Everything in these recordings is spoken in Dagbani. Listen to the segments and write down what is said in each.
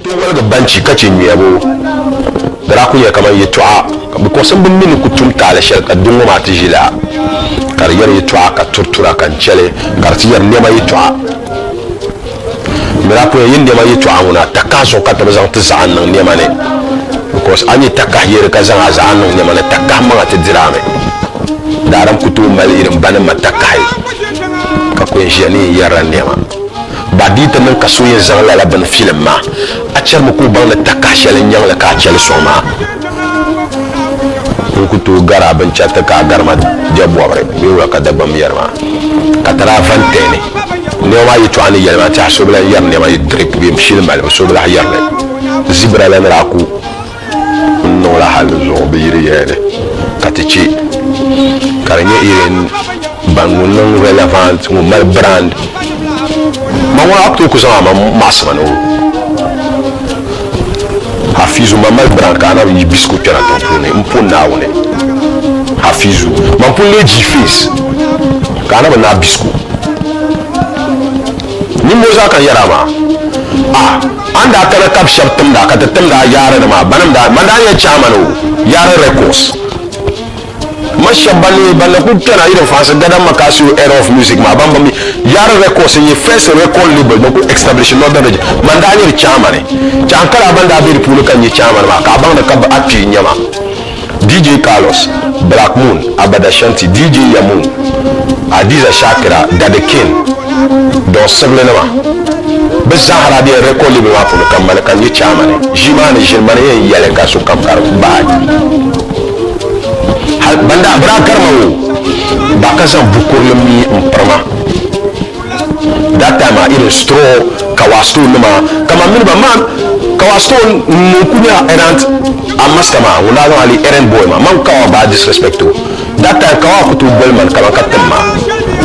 Tiŋgoliga banchi ka chɛ nyuyabu daa ku nyɛla kamani yɛtɔɣa ka bipuɣinsi mini bɛ ni ku tum taali shɛli ka di ŋɔ maa ti ʒi la ka di yɛri yɛtɔɣa ka turi tura ka n chɛli ka di ti yɛri nɛma yɛtɔɣa. Di daa puya yi nɛma yɛtɔɣa ŋuna, takahi suŋ ka ti bi zaŋ ti zaɣa niŋ nɛma ni. Because a nyɛ takahi yeri ka zaŋ a zaɣa niŋ nɛma ni, takahi maŋa ti diri a mi. Daarim ku tooi mali irin ba ni ma takahi ka ku yɛn ʒiya ni yɛn yɛrila nɛma. Ba di yi ti niŋ ka so yɛn zaŋ lala bini filim ma, a chɛrimi ka o baŋ ni takahi shɛli n-nyaŋ li ka a chɛ li sɔŋ maa. n ku tooi gari a binchɛriti ka a gari ma jɛbɔbiri bee wula ka Dagbamb yɛli maa. Ka ti daa van tɛhi ni nɛma maa yɛtɔɣa ni yɛli maa tɛha so bi lan yɛri nɛma yi dirip bee shili malibu so bi lahi yɛri li. Zibira la ni daa ku n-niŋ la hal zuɣu bi yiri yɛya ni ka ti chɛ ka di nyɛ Irene Ban ŋun niŋ relevant, ŋun mali brand. Ma ŋɔ act o ku zaŋ a ma maɣisima ni o. Hafizu, ma mali brand ka a na yi bisigu kpɛna tiŋ puuni m po Naawuni. Hafizu, man pun lee ji face ka a na bi naai bisigu. Nimmɔɔ zaa ka n yɛri a maa. Ah, a ni daa kana kabi shɛb timda ka ti timda yaari ni maa, banim daa, man daa nyɛ chairman o, Yaari Records. Ma shɛb ban lee ban na kuli kpɛna irin Fransi Gadam Makasio era of music maa ban mi Yaari Records n nyɛ first record label ban kuli establish Northern region man daa nyɛ di chairman. Chaŋ kala ban daa be di puuni ka n nyɛ chairman maa ka a baŋ ni ka a kpee n-nyɛ ma. DJ Carlos, Black Moon, Abada Shanti, DJ Yamu, Hadiza Shakira, Daddy King, Don Sibili nima. Bɛ zaa ha daa bela record label maa puuni ka m ma ni ka n nyɛ chairman. Ʒii maa ni ʒini ma ni yɛn yɛli ka sokam ka di bahi. hal ban daa bi daa gari ma ŋɔ ba ka zaŋ bukurili mi m-piri ma that time a irin straw kawa stone nima kama mini ba man kawa stone ŋun ku nyɛla errant a master maa ŋun daa zaŋ ali errand boy maa man kawa baa disrespect o that time kawa ku tooi boli man kaman ka tim ma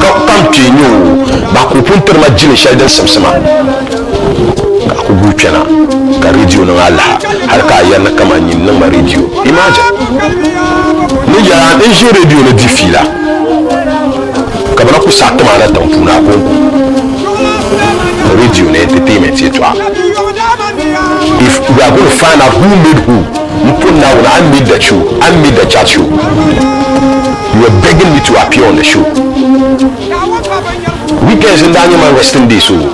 ka ka m kpe nyɛ o ba ka o pun tiri ma jili shɛli din simsi ma ka a ku guui kpɛna ka rediyo niŋ alaha hali ka a yɛri ni kaman nyin niŋma rediyo imagine ni yɛra n ʒi rediyo ni di fiila ka bɛ na ku saɣi ti maa na tiŋ puuni a kɔŋko rediyo ni entertainment yɛtɔɣa if we are going to find out who made who n pɔ naawuni I made the show I made the chat show you were begging me to appear on the show weekends n daa nyɛ man resting day so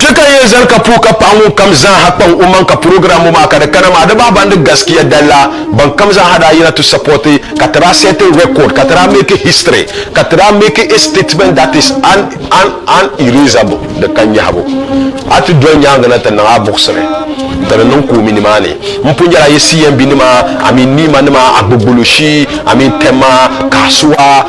Kpe ka n yɛn zali ka puhi ka paɣa ŋun kam zaaha kpaŋ o maŋ ka program ŋɔ maa ka di kana maa di bahi ban di gaskiya dalla ban kam zaaha daa yina ti support ka ti daa set record ka ti daa make history ka ti daa make a statement that is unerasable di ka nyahibu a ti doli nyaangi na ti niŋ a buɣisiri ti ni niŋ koomi nimaani n pun nyɛla a yi CMB nima I mean Nima nima Agbogboloshi I mean Tema Kasuwa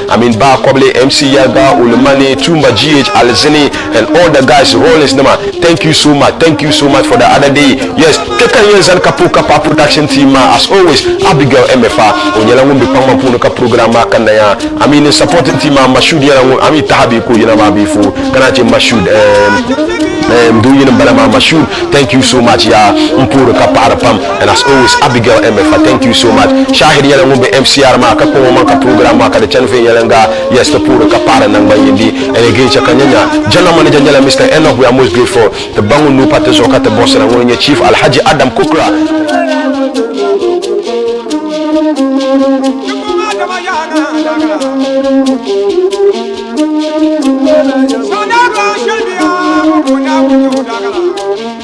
Amin Bah Kobile, MC Yarga, Ulumani, Tumba GH, Alizini and all the guys, Rollins nima, thank you so much, thank you so much for the other day, yes, kpe ka n yɛn zani ka puhi ka paɣi production team maa as always, Abigail Emefa, o nyɛla ŋun be kpaŋmaŋ puuni ka program maa kanna ya, Amin n supporting team maa, Mashud nyɛla ŋun, Amin taha bee ka o yina maa bee fo, ka naan che Mashud eem, eem doo yini m bala maa, Mashud, thank you so much yaa, m puhiri ka paɣiri pam. And as always Abigail Emefa thank you so much Shahid nyɛla ŋun be MCR maa ka kpaŋ o maŋ ka program maa ka di chani viɛnyɛliŋga yes ti puhiri ka paɣiri naŋgban yindi And again chɛ ka nya nya General Manager nyɛla Mister Enoch we are most grateful ti ba ŋun nuu pa ti zuɣu ka ti buɣisira ŋuni nyɛ Chief Alhaji Adam Kukra.